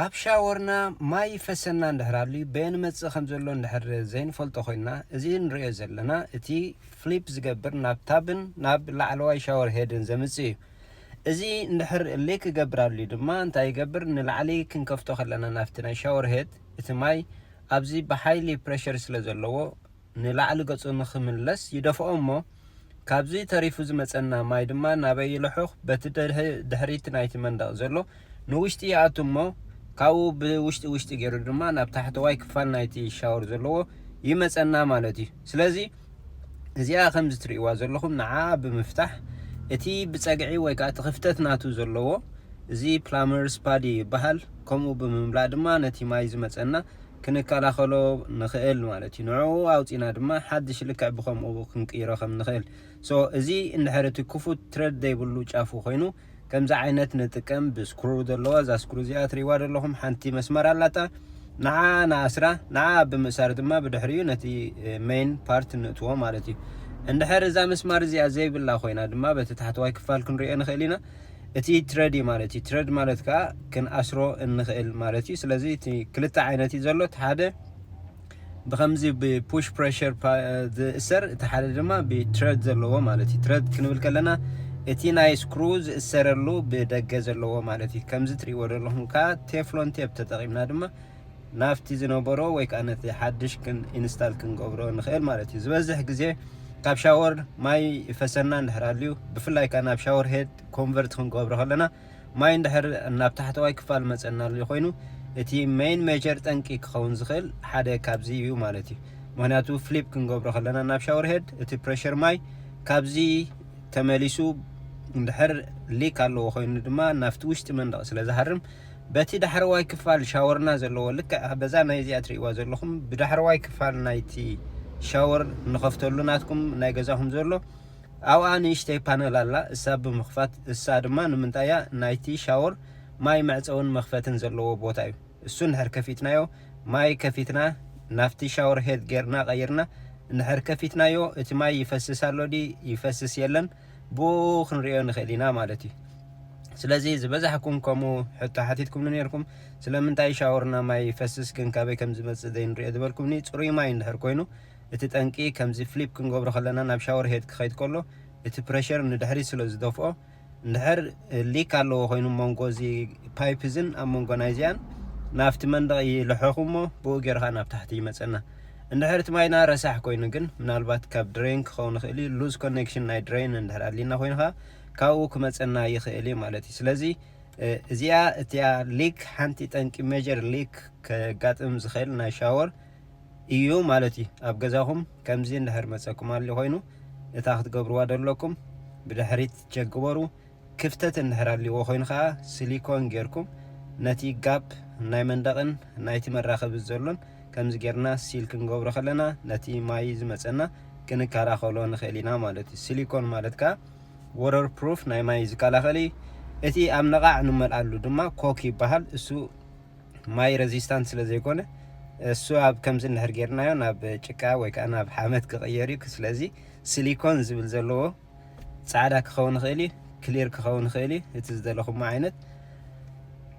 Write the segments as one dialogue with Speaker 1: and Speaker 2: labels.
Speaker 1: ኣብ ሻወርና ማይ ይፈሰና እንድሕር ኣልዩ በየን ይመጽእ ከም ዘሎ እንድሕር ዘይንፈልጦ ኮይና እዚ ንርእዮ ዘለና እቲ ፍሊፕ ዝገብር ናብ ታብን ናብ ላዕለዋይ ሻወር ሄድን ዘምጽእ እዩ እዚ እንድሕር ሊክ ክገብር ኣልዩ ድማ እንታይ ይገብር ንላዕሊ ክንከፍቶ ከለና ናብቲ ናይ ሻወር ሄድ እቲ ማይ ኣብዚ ብሓይሊ ፕረሸር ስለ ዘለዎ ንላዕሊ ገጹ ንኽምለስ ይደፍኦ እሞ፣ ካብዚ ተሪፉ ዝመጸና ማይ ድማ ናበይ ይልሑኽ፣ በቲ ድሕሪት ናይቲ መንደቕ ዘሎ ንውሽጢ ይኣቱ እሞ፣ ካብኡ ብውሽጢ ውሽጢ ጌሩ ድማ ናብ ታሕተዋይ ክፋል ናይቲ ሻወር ዘለዎ ይመጸና ማለት እዩ። ስለዚ እዚኣ ከምዚ ትርእይዋ ዘለኹም ንዓኣ ብምፍታሕ እቲ ብጸግዒ ወይ ከኣ እቲ ክፍተት ናቱ ዘለዎ እዚ ፕላመርስ ፓዲ ይበሃል፣ ከምኡ ብምምላእ ድማ ነቲ ማይ ዝመጸና ክንከላኸሎ ንኽእል ማለት እዩ። ንዕኡ ኣውጺእና ድማ ሓድሽ ልክዕ ብኸምኡ ክንቅይሮ ከም ንኽእል። So እዚ እንድሕር እቲ ክፉት ትረድ ዘይብሉ ጫፉ ኮይኑ ከምዚ ዓይነት ንጥቀም ብስክሩ ዘለዋ እዛ ስክሩ እዚኣ ትርእይዋዶ ኣለኹም ሓንቲ መስመር ኣላታ ንዓኣ ንኣስራ ንዓኣ ብምእሳር ድማ ብድሕሪኡ ነቲ main part ንእትዎ ማለት እዩ። እንድሕር እዛ መስማር እዚኣ ዘይብላ ኮይና ድማ በቲ ታሕተዋይ ክፋል ክንርእዮ ንኽእል ኢና። እቲ ትረድ እዩ ማለት እዩ ትረድ ማለት ከዓ ክንኣስሮ እንኽእል ማለት እዩ ስለዚ እቲ ክልተ ዓይነት እዩ ዘሎ እቲ ሓደ ብከምዚ ብፑሽ ፕሬሽር ዝእሰር እቲ ሓደ ድማ ብትረድ ዘለዎ ማለት እዩ ትረድ ክንብል ከለና እቲ ናይ ስክሩ ዝእሰረሉ ብደገ ዘለዎ ማለት እዩ ከምዚ ትሪእዎ ዘለኹም ከዓ ቴፍሎን ቴፕ ተጠቂምና ድማ ናብቲ ዝነበሮ ወይ ከኣ ነቲ ሓድሽ ክን ኢንስታል ክንገብሮ ንኽእል ማለት እዩ ዝበዝሕ ግዜ ካብ ሻወር ማይ ይፈሰና እንድሕር ኣልዩ ብፍላይ ከኣ ናብ ሻወር ሄድ ኮንቨርት ክንገብሮ ከለና ማይ እንድሕር ናብ ታሕተዋይ ክፋል መጸና ኣልዩ ኮይኑ እቲ ሜን ሜጀር ጠንቂ ክኸውን ዝኽእል ሓደ ካብዚ እዩ ማለት እዩ ምክንያቱ ፍሊፕ ክንገብሮ ከለና ናብ ሻወር ሄድ እቲ ፕሬሽር ማይ ካብዚ ተመሊሱ እንድሕር ሊክ ኣለዎ ኮይኑ ድማ ናብቲ ውሽጢ መንደቕ ስለ ዝሃርም በቲ ዳሕረዋይ ክፋል ሻወርና ዘለዎ ልክዕ በዛ ናይ እዚኣ ትርእይዋ ዘለኹም ብዳሕረዋይ ክፋል ናይቲ ሻወር ንኸፍተሉ ናትኩም ናይ ገዛኹም ዘሎ ኣብኣ ንእሽተይ ፓነል ኣላ እሳ ብምኽፋት እሳ ድማ ንምንታይ እያ ናይቲ ሻወር ማይ መዕፀውን መኽፈትን ዘለዎ ቦታ እዩ እሱ እንድሕር ከፊትናዮ ማይ ከፊትና ናብቲ ሻወር ሄድ ጌርና ቀይርና እንድሕር ከፊትናዮ እቲ ማይ ይፈስስ ኣሎ ድዩ ይፈስስ የለን ብኡኡ ክንርእዮ ንኽእል ኢና ማለት እዩ። ስለዚ ዝበዛሕኩም ከምኡ ሕቶ ሓቲትኩምኒ ኔርኩም፣ ስለምንታይ ሻወርና ማይ ይፈስስ ግን ካበይ ከም ዝመጽእ ዘይንርእዮ ዝበልኩምኒ፣ ጽሩይ ማይ እንድሕር ኮይኑ እቲ ጠንቂ ከምዚ ፍሊፕ ክንገብሮ ከለና ናብ ሻወር ሄድ ክኸይድ ከሎ እቲ ፕረሸር ንድሕሪት ስለ ዝደፍኦ እንድሕር ሊክ ኣለዎ ኮይኑ መንጎ እዚ ፓይፕ እዝን ኣብ መንጎ ናይዚኣን ናብቲ መንደቕ ይልሕኽ እሞ ብኡ ጌርካ ናብ ታሕቲ ይመጸና እንድሕር እቲ ማይና ረሳሕ ኮይኑ ግን ምናልባት ካብ ድረይን ክኸውን ይኽእል እዩ ሉዝ ኮኔክሽን ናይ ድረይን እንድሕር ኣድሊና ኮይኑ ከኣ ካብኡ ክመጸና ይኽእል እዩ ማለት እዩ ስለዚ እዚኣ እቲኣ ሊክ ሓንቲ ጠንቂ ሜጀር ሊክ ከጋጥም ዝኽእል ናይ ሻወር እዩ ማለት እዩ ኣብ ገዛኹም ከምዚ እንድሕር መጸኩም ኣሊ ኮይኑ እታ ክትገብርዋ ደለኩም ብድሕሪት ቸክ ግበሩ ክፍተት እንድሕር ኣልዎ ኮይኑ ከኣ ስሊኮን ጌርኩም ነቲ ጋፕ ናይ መንደቕን ናይቲ መራኸቢ ዘሎን ከምዚ ጌርና ሲል ክንገብሮ ከለና ነቲ ማይ ዝመጸና ክንከላኸሎ ንኽእል ኢና ማለት እዩ። ስሊኮን ማለት ከኣ ወረር ፕሩፍ ናይ ማይ ዝከላኸል እዩ። እቲ ኣብ ነቓዕ ንመልኣሉ ድማ ኮክ ይበሃል እሱ ማይ ረዚስታንት ስለ ዘይኮነ እሱ ኣብ ከምዚ እንድሕር ጌርናዮ ናብ ጭቃ ወይ ከዓ ናብ ሓመድ ክቕየር እዩ ስለዚ ሲሊኮን ዝብል ዘለዎ ጻዕዳ ክኸውን ይኽእል እዩ፣ ክሊር ክኸውን ይኽእል እዩ፣ እቲ ዝደለኹሞ ዓይነት።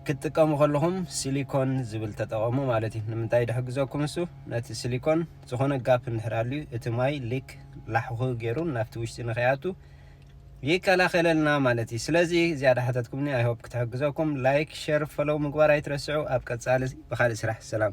Speaker 1: ክትጥቀሙ ከለኹም ሲሊኮን ዝብል ተጠቐሙ ማለት እዩ። ንምንታይ ድሕግዘኩም እሱ ነቲ ሲሊኮን ዝኾነ ጋፕ እንድሕር ኣልዩ እቲ ማይ ሊክ ላሕኹ ገይሩ ናብቲ ውሽጢ ንኸይኣቱ ይከላኸለልና ማለት እዩ። ስለዚ እዚኣ ዳሓተትኩምኒ ኣይሆፕ ክትሕግዘኩም። ላይክ ሸር ፈለው ምግባር ኣይትረስዑ። ኣብ ቀጻሊ ብኻልእ ስራሕ ሰላም።